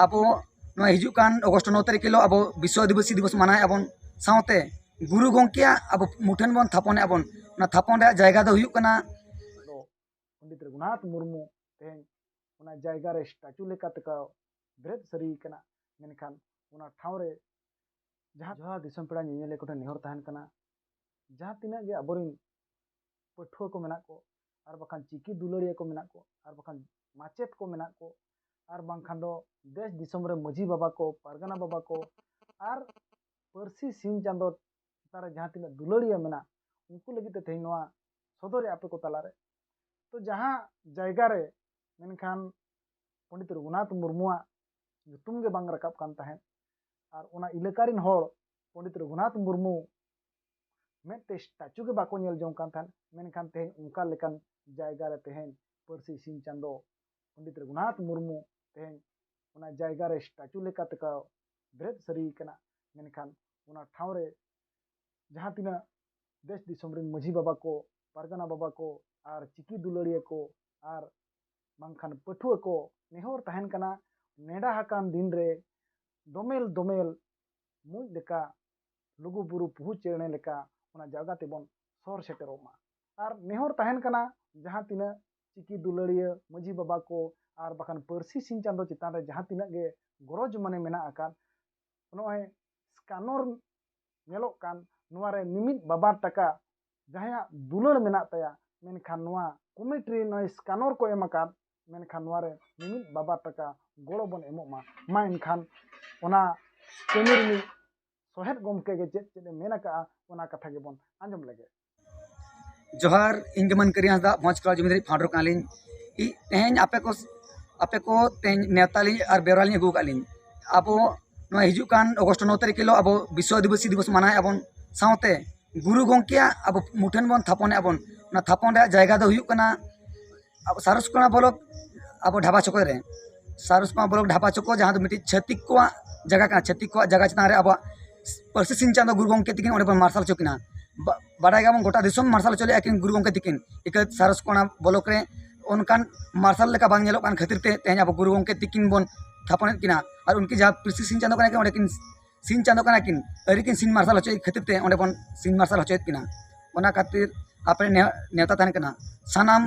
ᱟᱵᱚ ᱱᱚᱣᱟ ᱦᱤᱡᱩᱜ ᱠᱟᱱ ᱚᱜᱚᱥᱴ ᱱᱚ ᱛᱟᱹᱨᱤᱠᱷ ᱦᱤᱞᱳᱜ ᱟᱵᱚ ᱵᱤᱥᱥᱚ ᱟᱹᱫᱤᱵᱟᱹᱥᱤ ᱫᱤᱵᱚᱥ ᱢᱟᱱᱟᱣ ᱮᱫᱟ ᱵᱚᱱ ᱥᱟᱶᱛᱮ ᱜᱩᱨᱩ ᱜᱚᱢᱠᱮᱭᱟᱜ ᱟᱵᱚ ᱢᱩᱴᱷᱟᱹᱱ ᱵᱚᱱ ᱛᱷᱟᱯᱚᱱ ᱮᱫᱟ ᱵᱚᱱ ᱚᱱᱟ ᱛᱷᱟᱯᱚᱱ ᱨᱮᱭᱟᱜ ᱡᱟᱭᱜᱟ ᱫᱚ ᱦᱩᱭᱩᱜ ᱠᱟᱱᱟ ᱯᱚᱱᱰᱤᱛ ᱨᱚᱜᱷᱩᱱᱟᱛᱷ ᱢᱩᱨᱢᱩ ᱛᱮᱦᱮᱧ ᱚᱱᱟ ᱡᱟᱭᱜᱟ ᱨᱮ ᱥᱴᱟᱪᱩ ᱞᱮᱠᱟ ᱛᱮᱠᱚ ᱵᱮᱨᱮᱫ ᱥᱟᱹᱨᱤ ᱠᱟᱱᱟ ᱢᱮᱱᱠᱷᱟᱱ ᱚᱱᱟ ᱴᱷᱟᱶ ᱨᱮ ᱡᱟᱦᱟᱸ ᱡᱟᱦᱟᱸ ᱫᱤᱥᱚᱢ ᱯᱮᱲᱟ ᱧᱮᱧᱮᱞᱤᱭᱟᱹ ᱠᱚᱴᱷᱮᱱ ᱱᱮᱦᱚᱨ ᱛᱟᱦᱮᱱ ᱠᱟᱱᱟ ᱡᱟᱦᱟᱸ ᱛᱤᱱᱟᱹᱜ ᱜᱮ ᱟᱵᱚᱨᱮᱱ ᱯᱟᱹᱴᱷᱩᱣᱟᱹ ᱠᱚ ᱢᱮᱱᱟᱜ ᱠᱚ ᱟᱨ ᱵᱟᱠᱷᱟᱱ ᱪᱤᱠᱤ ᱫᱩᱞᱟᱹᱲᱤᱭᱟᱹ ᱠᱚ ᱢᱮᱱᱟᱜ ᱠᱚ ᱟᱨ ᱵᱟᱠᱷᱟᱱ ᱢᱟᱪᱮᱫ ᱠᱚ ᱢᱮᱱᱟᱜ ᱠᱚ ᱟᱨ ᱵᱟᱝᱠᱷᱟᱱ ᱫᱚ ᱫᱮᱥ ᱫᱤᱥᱚᱢ ᱨᱮ ᱢᱟᱹᱡᱷᱤ ᱵᱟᱵᱟ ᱠᱚ ᱯᱟᱨᱜᱟᱱᱟ ᱵᱟᱵᱟ ᱠᱚ ᱟᱨ ᱯᱟᱹᱨᱥᱤ ᱥᱤᱧ ᱪᱟᱸᱫᱚ ᱪᱮᱛᱟᱱ ᱨᱮ ᱡᱟᱦᱟᱸ ᱛᱤᱱᱟᱹᱜ ᱫᱩᱞᱟᱹᱲᱤᱭᱟᱹ ᱢᱮᱱᱟᱜ ᱩᱱᱠᱩ ᱞᱟᱹᱜᱤᱫ ᱛᱮ ᱛᱮᱦᱮᱧ ᱱᱚᱣᱟ ᱥᱚᱫᱚᱨᱮ ᱟᱯᱮ ᱠᱚ ᱛᱟᱞᱟᱨᱮ ᱛᱚ ᱡᱟᱦᱟᱸ ᱡᱟᱭᱜᱟ ᱨᱮ ᱢᱮᱱᱠᱷᱟᱱ ᱯᱚᱸᱰᱤᱛ ᱨᱚᱜᱷᱩᱱᱟᱛᱷ ᱢᱩᱨᱢᱩᱣᱟᱜ ᱧᱩᱛᱩᱢ ᱜᱮ ᱵᱟᱝ ᱨᱟᱠᱟᱵ ᱠᱟᱱ ᱛᱟᱦᱮᱸᱫ ᱟᱨ ᱚᱱᱟ ᱤᱞᱟᱹᱠᱟ ᱨᱮᱱ ᱦᱚᱲ ᱯᱚᱸᱰᱤᱛ ᱨᱚᱜᱷᱩᱱᱟᱛᱷ ᱢᱩᱨᱢᱩ ᱢᱤᱫᱴᱮᱱ ᱥᱴᱟᱪᱩ ᱜᱮ ᱵᱟᱠᱚ ᱧᱮᱞ ᱡᱚᱝ ᱠᱟᱱ ᱛᱟᱦᱮᱸᱫ ᱢᱮᱱᱠᱷᱟᱱ ᱛᱮᱦᱮᱧ ᱚᱱᱠᱟ ᱞᱮᱠᱟᱱ ᱡᱟᱭᱜᱟ ᱨᱮ ᱛᱮᱦᱮᱧ ᱯᱟᱹᱨᱥᱤ ᱥᱤᱧ ᱪᱟᱸᱫᱳ ᱯᱚᱱᱰᱤᱛ ᱨᱚᱜᱷᱩᱱᱟᱛᱷ ᱢᱩᱨᱢᱩ ᱛᱮᱦᱮᱧ ᱚᱱᱟ ᱡᱟᱭᱜᱟ ᱨᱮ ᱥᱴᱟᱪᱩ ᱞᱮᱠᱟ ᱛᱮᱠᱚ ᱵᱮᱨᱮᱫ ᱥᱟᱹᱨᱤ ᱠᱟᱱᱟ ᱢᱮᱱᱠᱷᱟᱱ ᱚᱱᱟ ᱴᱷᱟᱶ ᱨᱮ ᱡᱟᱦᱟᱸ ᱛᱤᱱᱟᱹᱜ ᱫᱮᱥ ᱫᱤᱥᱚᱢ ᱨᱮᱱ ᱢᱟᱹᱡᱷᱤ ᱵᱟᱵᱟ ᱠᱚ ᱯᱟᱨᱜᱟᱱᱟ ᱵᱟᱵᱟ ᱠᱚ ᱟᱨ ᱪᱤᱠᱤ ᱫᱩᱞᱟᱹᱲᱤᱭᱟᱹ ᱠᱚ ᱟᱨ ᱵᱟᱝᱠᱷᱟᱱ ᱯᱟᱹᱴᱷᱩᱣᱟᱹ ᱠᱚ ᱱᱮᱦᱚᱨ ᱛᱟᱦᱮᱱ ᱠᱟᱱᱟ ᱱᱮᱰᱟ ᱟᱠᱟᱱ ᱫᱤᱱ ᱨᱮ ᱫᱚᱢᱮᱞ ᱫᱚᱢᱮᱞ ᱢᱩᱸᱡ ᱞᱮᱠᱟ ᱞᱩᱜᱩ ᱵᱩᱨᱩ ᱯᱩᱦᱩ ᱪᱮᱬᱮ ᱞᱮᱠᱟ ᱚᱱᱟ ᱡᱟᱭᱜᱟ ᱛᱮᱵᱚᱱ ᱥᱚᱦᱚᱨ ᱥᱮᱴᱮᱨᱚᱜ ᱢᱟ ᱟᱨ ᱱᱮᱦᱚᱨ ᱛᱟᱦᱮᱱ ᱠᱟᱱᱟ ᱡᱟᱦᱟᱸ ᱛᱤᱱᱟᱹᱜ ᱪᱤᱠᱤ ᱫᱩᱞᱟᱹᱲᱤᱭᱟᱹ ᱢᱟᱹᱡᱷᱤ ᱵᱟᱵᱟ ᱠᱚ ᱟᱨ ᱵᱟᱠᱷᱟᱱ ᱯᱟᱹᱨᱥᱤ ᱥᱤᱧ ᱪᱟᱸᱫᱚ ᱪᱮᱛᱟᱱ ᱨᱮ ᱡᱟᱦᱟᱸ ᱛᱤᱱᱟᱹᱜ ᱜᱮ ᱜᱚᱨᱚᱡᱽ ᱢᱟᱱᱮ ᱢᱮᱱᱟᱜ ᱟᱠᱟᱫ ᱱᱚᱜᱼᱚᱭ ᱥᱠᱟᱱᱚᱨ ᱧᱮᱞᱚᱜ ᱠᱟᱱ ᱱᱚᱣᱟ ᱨᱮ ᱢᱤᱢᱤᱫ ᱵᱟᱵᱟᱨ ᱴᱟᱠᱟ ᱡᱟᱦᱟᱸᱭᱟᱜ ᱫᱩᱞᱟᱹᱲ ᱢᱮᱱᱟᱜ ᱛᱟᱭᱟ ᱢᱮᱱᱠᱷᱟᱱ ᱱᱚᱣᱟ ᱠᱚᱢᱮᱴ ᱨᱮ ᱱᱚᱜᱼᱚᱭ ᱥᱠᱟᱱᱚᱨ ᱠᱚ ᱮᱢ ᱟᱠᱟᱫ ᱢᱮᱱᱠᱷᱟᱱ ᱱᱚᱣᱟ ᱨᱮ ᱢᱤᱢᱤᱫ ᱵᱟᱵᱟᱨ ᱴᱟᱠᱟ ᱜᱚᱲᱚ ᱵᱚᱱ ᱮᱢᱚᱜ ᱢᱟ ᱢᱟ ᱮᱱᱠᱷᱟᱱ ᱚᱱᱟ ᱠᱟᱹᱢᱤ ᱨᱤᱱᱤᱡ ᱥᱚᱦᱮᱫ ᱜᱚᱢᱠᱮ ᱜᱮ ᱪᱮᱫ ᱪᱮᱫ ᱮ ᱢᱮᱱ ᱟᱠᱟᱜᱼᱟ ᱚᱱᱟ ᱠᱟᱛᱷᱟ ᱜᱮᱵᱚᱱ ᱟᱸᱡᱚᱢ ᱞᱮᱜᱮ ᱡᱚᱦᱟᱨ ᱤᱧ ᱜᱮ ᱢᱟᱱᱠᱟᱹᱨᱤ ᱦᱟᱸᱥᱫᱟ ᱢᱚᱡᱽ ᱠᱚᱲᱟ ᱡᱩᱢᱤᱫᱟᱨᱤ ᱯᱷᱟᱣᱩᱱᱰᱟᱨ ᱠᱟᱱᱟᱞᱤᱧ ᱛᱮᱦᱮᱧ ᱟᱯᱮ ᱠᱚ ᱟᱯᱮ ᱠᱚ ᱛᱮᱦᱮᱧ ᱱᱮᱣᱛᱟ ᱞᱤᱧ ᱟᱨ ᱵᱮᱣᱨᱟ ᱞᱤᱧ ᱟᱹᱜᱩ ᱟᱠᱟᱫ ᱞᱤᱧ ᱟᱵᱚ ᱱᱚᱣᱟ ᱦᱤᱡᱩᱜ ᱠᱟᱱ ᱚᱜᱚᱥᱴ ᱱᱚ ᱛᱟᱹᱨᱤᱠᱷ ᱦᱤᱞᱳᱜ ᱟᱵᱚ ᱵᱤᱥᱥᱚ ᱟᱹᱫᱤᱵᱟᱹᱥᱤ ᱫᱤᱵᱚᱥ ᱢᱟᱱᱟᱣᱮᱫ ᱟᱵᱚᱱ ᱥᱟᱶᱛᱮ ᱜᱩᱨᱩ ᱜᱚᱢᱠᱮᱭᱟᱜ ᱟᱵᱚ ᱢᱩᱴᱷᱟᱹᱱ ᱵᱚᱱ ᱛᱷᱟᱯᱚᱱᱮᱫ ᱟᱵᱚᱱ ᱚᱱᱟ ᱛᱷᱟᱯᱚᱱ ᱨᱮᱭᱟᱜ ᱡᱟᱭᱜᱟ ᱫᱚ ᱦᱩᱭᱩᱜ ᱠᱟᱱᱟ ᱟᱵᱚ ᱥᱟᱨᱚᱥ ᱠᱚᱬᱟ ᱵᱞᱚᱠ ᱟᱵᱚ ᱰᱷᱟᱵᱟ ᱪᱚᱠᱚ ᱨᱮ ᱥᱟᱨᱚᱥ ᱠᱚᱬᱟ ᱵᱞᱚᱠ ᱰᱷᱟᱵᱟ ᱪᱚᱠᱚ ᱡᱟᱦᱟᱸ ᱫᱚ ᱢᱤᱫᱴᱤᱡ ᱪᱷᱟᱹᱛᱤᱠ ᱠᱚᱣᱟᱜ ᱡᱟᱭᱜᱟ ᱠᱟᱱᱟ ᱪᱷᱟᱹᱛᱤᱠ ᱠᱚᱣᱟᱜ ᱡᱟᱭᱜᱟ ᱪᱮᱛᱟᱱ ᱨᱮ ᱟᱵᱚᱣᱟᱜ ᱯᱟᱹᱨᱥᱤ ᱥᱤᱧ ᱪᱟᱸᱫᱚ ᱜᱩᱨᱩ ᱜᱚᱢᱠᱮ ᱛᱟᱹᱠᱤᱱ ᱚᱸᱰᱮ ᱵᱚᱱ ᱢᱟᱨᱥᱟᱞ ᱦᱚᱪᱚ ᱠᱤᱱᱟ ᱵᱟᱰᱟᱭ ᱜᱮᱭᱟ ᱵᱚᱱ ᱜᱳᱴᱟ ᱫᱤᱥᱚᱢ ᱢᱟᱨᱥᱟᱞ ᱦᱚᱪᱚ ᱞᱮᱜᱼᱟ ᱠᱤᱱ ᱜᱩᱨᱩ ᱜᱚᱢᱠᱮ ᱛᱟᱹᱠᱤᱱ ᱤᱠᱟᱹᱛ ᱥᱟᱨᱚᱥ ᱠᱚᱬᱟ ᱵᱞᱚᱠ ᱨᱮ ᱚᱱᱠᱟᱱ ᱢᱟᱨᱥᱟᱞ ᱞᱮᱠᱟ ᱵᱟᱝ ᱧᱮᱞᱚᱜ ᱠᱟᱱ ᱠᱷᱟᱹᱛᱤᱨ ᱛᱮ ᱛᱮᱦᱮᱧ ᱟᱵᱚ ᱜᱩᱨᱩ ᱜᱚᱢᱠᱮ ᱛᱟᱹᱠᱤᱱ ᱵᱚᱱ ᱛᱷᱟᱯᱚᱱᱮᱜ ᱠᱤᱱᱟ ᱟᱨ ᱩᱱᱠᱤᱱ ᱡᱟᱦᱟᱸ ᱯᱟᱹᱨᱥᱤ ᱥᱤᱧ ᱪᱟᱸᱫᱚ ᱠᱟᱱᱟ ᱠᱤᱱ ᱚᱸᱰᱮ ᱠᱤᱱ ᱥᱤᱧ ᱪᱟᱸᱫᱚ ᱠᱟᱱᱟ ᱠᱤᱱ ᱟᱹᱣᱨᱤ ᱠᱤᱱ ᱥᱤᱧ ᱢᱟᱨᱥᱟᱞ ᱦᱚᱪᱚᱭ ᱠᱷᱟᱹᱛᱤᱨ ᱛᱮ ᱚᱸᱰᱮ ᱵᱚᱱ ᱥᱤᱧ ᱢᱟᱨᱥᱟᱞ ᱦᱚᱪᱚᱭᱮᱫ ᱠᱤᱱᱟ ᱚᱱᱟ ᱠᱷᱟᱹᱛᱤᱨ ᱟᱯᱮ ᱱᱮᱶᱛᱟ ᱛᱟᱦᱮᱱ ᱠᱟᱱᱟ ᱥᱟᱱᱟᱢ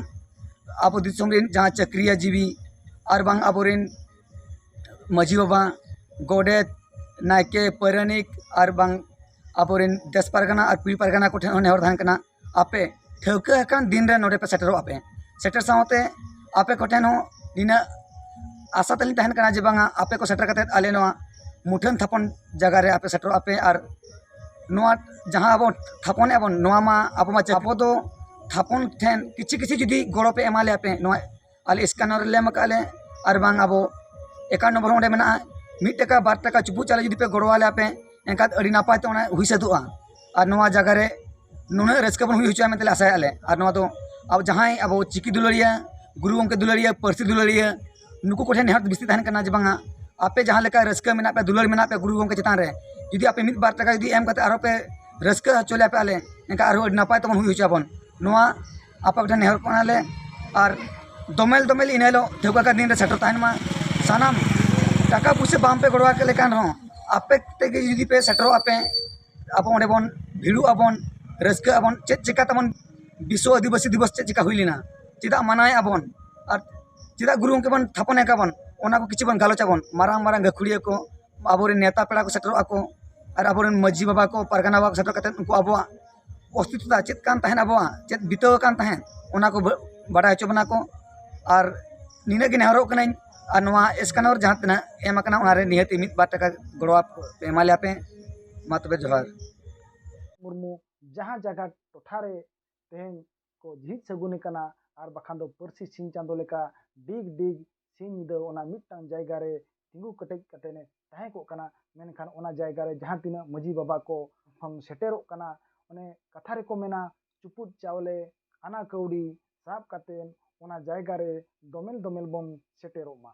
ᱟᱵᱚ ᱫᱤᱥᱚᱢ ᱨᱮᱱ ᱡᱟᱦᱟᱸ ᱪᱟᱹᱠᱨᱤᱭᱟ ᱡᱤᱵᱤ ᱟᱨ ᱵᱟᱝ ᱟᱵᱚ ᱨᱮᱱ ᱢᱟᱹᱡᱷᱤ ᱵᱟᱵᱟ ᱜᱚᱰᱮᱛ ᱱᱟᱭᱠᱮ ᱯᱟᱹᱨᱟᱹᱱᱤᱠ ᱟᱨ ᱵᱟᱝ ᱟᱵᱚ ᱨᱮᱱ ᱫᱮᱥ ᱯᱟᱨᱜᱟᱱᱟ ᱟᱨ ᱠᱩᱲᱤ ᱯᱟᱨᱜᱟᱱᱟ ᱠᱚᱴᱷᱮᱱ ᱦᱚᱸ ᱱᱮᱦᱚᱨ ᱛᱟᱦᱮᱱ ᱠᱟᱱᱟ ᱟᱯᱮ ᱴᱷᱟᱹᱣᱠᱟᱹ ᱟᱠᱟᱱ ᱫᱤᱱ ᱨᱮ ᱱᱚᱰᱮ ᱯᱮ ᱥᱮᱴᱮᱨᱚᱜ ᱟᱯᱮ ᱥᱮᱴᱮᱨ ᱥᱟᱶᱛᱮ ᱟᱯᱮ ᱠᱚᱴᱷᱮᱱ ᱦᱚᱸ ᱱᱤᱱᱟᱹᱜ ᱟᱥᱟ ᱛᱟᱞᱤᱧ ᱛᱟᱦᱮᱱ ᱠᱟᱱᱟ ᱡᱮ ᱵᱟᱝᱟ ᱟᱯᱮ ᱠᱚ ᱥᱮᱴᱮᱨ ᱠᱟᱛᱮ ᱟᱞᱮ ᱱᱚᱣᱟ ᱢᱩᱴᱷᱟᱹᱱ ᱛᱷᱟᱯᱚᱱ ᱡᱟᱭᱜᱟ ᱨᱮ ᱟᱯᱮ ᱥᱮᱴᱮᱨᱚᱜ ᱟᱯᱮ ᱟᱨ ᱱᱚᱣᱟ ᱡᱟᱦᱟᱸ ᱟᱵᱚ ᱛᱷᱟᱯᱚᱱ ᱮᱜᱼᱟ ᱵᱚᱱ ᱱᱚᱣᱟ ᱢᱟ ᱟᱵᱚ ᱢᱟ ᱟᱵᱚ ᱫᱚ ᱛᱷᱟᱯᱚᱱ ᱴᱷᱮᱱ ᱠᱤᱪᱷᱩ ᱠᱤᱪᱷᱩ ᱡᱩᱫᱤ ᱜᱚᱲᱚ ᱯᱮ ᱮᱢᱟ ᱞᱮᱭᱟ ᱯᱮ ᱱᱚᱣᱟ ᱟᱞᱮ ᱥᱠᱮᱱᱟᱨ ᱨᱮᱞᱮ ᱮᱢ ᱠᱟᱜᱼᱟ ᱞᱮ ᱟᱨ ᱵᱟᱝ ᱟᱵᱚ ᱮᱠᱟᱣᱩᱱᱴ ᱱᱚᱢᱵᱚᱨ ᱦᱚᱸ ᱚᱸᱰᱮ ᱢᱮᱱᱟᱜᱼᱟ ᱢᱤᱫ ᱴᱟᱠᱟ ᱵᱟᱨ ᱴᱟᱠᱟ ᱪᱩᱯᱩᱫ ᱪᱟᱣᱞᱮ ᱡᱩᱫᱤ ᱯᱮ ᱜᱚᱲᱚ ᱟᱞᱮᱭᱟ ᱯᱮ ᱮᱱᱠᱷᱟᱱ ᱟᱹᱰᱤ ᱱᱟᱯᱟᱭ ᱛᱮ ᱚᱱᱟ ᱦᱩᱭ ᱥᱟᱹᱛᱚᱜᱼᱟ ᱟᱨ ᱱᱚᱣᱟ ᱡᱟᱭᱜᱟ ᱨᱮ ᱱᱩᱱᱟᱹᱜ ᱨᱟᱹᱥᱠᱟᱹ ᱵᱚᱱ ᱦᱩᱭ ᱦᱚᱪᱚᱭᱟ ᱢᱮᱱᱛᱮ ᱞᱮ ᱟᱥᱟᱭᱮᱜᱼᱟ ᱞᱮ ᱟᱨ ᱱᱚᱣᱟ ᱫᱚ ᱟᱵᱚ ᱡᱟᱦᱟᱸᱭ ᱟᱵᱚ ᱪᱤᱠᱤ ᱫᱩᱞᱟᱹᱲᱤᱭᱟᱹ ᱜᱩᱨᱩ ᱜᱚᱢᱠᱮ ᱫᱩᱞᱟᱹᱲᱤᱭᱟᱹ ᱯᱟᱹᱨᱥᱤ ᱫᱩᱞᱟᱹᱲᱤᱭᱟᱹ ᱱᱩᱠᱩ ᱠᱚᱴᱷᱮᱱ ᱱᱮᱦᱚᱨ ᱵᱮᱥᱤ ᱛᱟᱦᱮᱱ ᱠᱟᱱᱟ ᱡᱮ ᱵᱟᱝᱟ ᱟᱯᱮ ᱡᱟᱦᱟᱸ ᱞᱮᱠᱟ ᱨᱟᱹᱥᱠᱟᱹ ᱢᱮᱱᱟᱜ ᱯᱮᱭᱟ ᱫᱩᱞᱟᱹᱲ ᱢᱮᱱᱟᱜ ᱯᱮᱭᱟ ᱜᱩᱨᱩ ᱜᱚᱢᱠᱮ ᱪᱮᱛᱟᱱ ᱨᱮ ᱡᱩᱫᱤ ᱟᱯᱮ ᱢᱤᱫ ᱵᱟᱨ ᱴᱟᱠᱟ ᱡᱩᱫᱤ ᱮᱢ ᱠᱟᱛᱮ ᱟᱨᱚ ᱯᱮ ᱨᱟᱹᱥᱠᱟᱹ ᱦᱚᱪᱚ ᱞᱮᱭᱟ ᱯᱮ ᱟᱞᱮ ᱮᱱᱠᱷᱟᱱ ᱟᱨᱚ ᱟᱹᱰᱤ ᱱᱟᱯᱟᱭ ᱛᱮᱵᱚᱱ ᱦᱩᱭ ᱦᱚᱪᱚᱭᱟᱵᱚᱱ ᱱᱚᱣᱟ ᱟᱯᱮ ᱠᱚᱴᱷᱮᱱ ᱱᱮᱦᱚᱨᱚᱜ ᱠᱟᱱᱟᱞᱮ ᱟᱨ ᱫᱚᱢᱮᱞ ᱫᱚᱢᱮᱞ ᱤᱱᱟᱹ ᱦᱤᱞᱳᱜ ᱴᱷᱟᱹᱣᱠᱟᱹ ᱟᱠᱟᱫ ᱫᱤᱱ ᱨᱮ ᱥᱮᱴᱮᱨ ᱛᱟᱦᱮᱱ ᱢᱟ ᱥᱟᱱᱟᱢ ᱴᱟᱠᱟ ᱯᱩᱭᱥᱟᱹ ᱵᱟᱝ ᱯᱮ ᱜᱚᱲᱚ ᱟᱞᱮ ᱠᱟᱱ ᱨᱮᱦᱚᱸ ᱟᱯᱮ ᱛᱮᱜᱮ ᱡᱩᱫᱤ ᱯᱮ ᱥᱮᱴᱮᱨᱚᱜᱼᱟ ᱯᱮ ᱟᱵᱚ ᱚᱸᱰᱮ ᱵᱚᱱ ᱵᱷᱤᱲᱚᱜ ᱟᱵᱚᱱ ᱨᱟᱹᱥᱠᱟᱹᱜ ᱟᱵᱚᱱ ᱪᱮᱫ ᱪᱤᱠᱟᱹ ᱛᱟᱵᱚᱱ ᱵᱤᱥᱥᱚ ᱟᱹᱫᱤᱵᱟᱹᱥᱤ ᱫᱤᱵᱚᱥ ᱪᱮᱫ ᱪᱤᱠᱟᱹ ᱦᱩᱭ ᱞᱮᱱᱟ ᱪᱮᱫᱟᱜ ᱢᱟᱱᱟᱣᱮᱜ ᱟᱵᱚᱱ ᱟᱨ ᱪᱮᱫᱟᱜ ᱜᱩᱨᱩ ᱜᱚᱢᱠᱮ ᱵᱚᱱ ᱛᱷᱟᱯᱚᱱ ᱮ ᱠᱟᱱᱟᱵᱚᱱ ᱚᱱᱟ ᱠᱚ ᱠᱤᱪᱷᱩ ᱵᱚᱱ ᱜᱟᱞᱚᱪ ᱟᱵᱚᱱ ᱢᱟᱨᱟᱝ ᱢᱟᱨᱟᱝ ᱜᱟᱹᱠᱷᱩᱲᱤᱭᱟᱹ ᱠᱚ ᱟᱵᱚᱨᱮᱱ ᱱᱮᱛᱟ ᱯᱮᱲᱟ ᱠᱚ ᱥᱮᱴᱮᱨᱚᱜᱼᱟ ᱠᱚ ᱟᱨ ᱟᱵᱚᱨᱮᱱ ᱢᱟᱹᱡᱷᱤ ᱵᱟᱵᱟ ᱠᱚ ᱯᱟᱨᱜᱟᱱᱟ ᱵᱟᱵᱟ ᱠᱚ ᱥᱮᱴᱮᱨ ᱠᱟᱛᱮᱫ ᱩᱱᱠᱩ ᱟᱵᱚᱣᱟᱜ ᱚᱥᱛᱤᱛᱛᱚ ᱪᱮᱫ ᱠᱟᱱ ᱛᱟᱦᱮᱸᱜ ᱟᱵᱚᱣᱟᱜ ᱪᱮᱫ ᱵᱤᱛᱟᱹᱣ ᱟᱠᱟᱱ ᱛᱟᱦᱮᱸᱜ ᱚᱱᱟ ᱠᱚ ᱵᱟᱲᱟᱭ ᱦᱚᱪᱚ ᱵᱚᱱᱟ ᱠᱚ ᱟᱨ ᱱᱤᱱᱟᱹᱜ ᱜᱮ ᱱᱮᱦᱚᱨᱚᱜ ᱠᱟᱹᱱᱟᱹᱧ ᱟᱨ ᱱᱚᱣᱟ ᱮᱥᱠᱟᱱᱚᱨ ᱡᱟᱦᱟᱸ ᱛᱤᱱᱟᱹᱜ ᱮᱢ ᱠᱟᱱᱟ ᱚᱱᱟ ᱨᱮ ᱱᱤᱦᱟᱹᱛ ᱢᱤᱫ ᱵᱟᱨ ᱴᱟᱠᱟ ᱜᱚᱲᱚ ᱮᱢᱟ ᱞᱮᱭᱟ ᱯᱮ ᱢᱟ ᱛᱚᱵᱮ ᱡᱚᱦᱟᱨ ᱢᱩᱨᱢᱩ ᱡᱟᱦᱟᱸ ᱡᱟᱭᱜᱟ ᱴᱚᱴᱷᱟ ᱨᱮ ᱛᱮᱦᱮᱧ ᱠᱚ ᱡᱷᱤᱡ ᱥᱟᱹᱜᱩᱱ ᱮᱠᱟᱱᱟ ᱟᱨ ᱵᱟᱠᱷᱟᱱ ᱫᱚ ᱯᱟᱹᱨᱥᱤ ᱥᱤᱧ ᱪᱟᱸᱫᱚ ᱞᱮᱠᱟ ᱰᱤᱜᱽ ᱰᱤᱜᱽ ᱥᱤᱧ ᱧᱤᱫᱟᱹ ᱚᱱᱟ ᱢᱤᱫᱴᱟᱝ ᱡᱟᱭᱜᱟ ᱨᱮ ᱛᱤᱸᱜᱩ ᱠᱮᱴᱮᱡ ᱠᱟᱛᱮ ᱮ ᱛᱟᱦᱮᱸ ᱠᱚᱜ ᱠᱟᱱᱟ ᱢᱮᱱᱠᱷᱟᱱ ᱚᱱᱟ ᱡᱟᱭᱜᱟ ᱨᱮ ᱡᱟᱦᱟᱸ ᱛᱤᱱᱟᱹᱜ ᱢᱟᱹᱡᱷᱤ ᱵᱟᱵᱟ ᱠᱚ ᱠᱷᱚᱱ ᱥᱮᱴᱮᱨᱚᱜ ᱠᱟᱱᱟ ᱚᱱᱮ ᱠᱟᱛᱷᱟ ᱨᱮᱠᱚ ᱢᱮᱱᱟ ᱪᱩᱯᱩᱫ ᱪᱟᱣᱞᱮ ᱟᱱᱟ ᱠᱟᱹᱣᱰᱤ ᱥᱟᱵ ᱠᱟᱛᱮ ᱚᱱᱟ ᱡᱟᱭᱜᱟ ᱨᱮ ᱫᱚᱢᱮᱞ ᱫᱚᱢᱮᱞ ᱵᱚᱱ ᱥᱮᱴᱮᱨᱚᱜ ᱢᱟ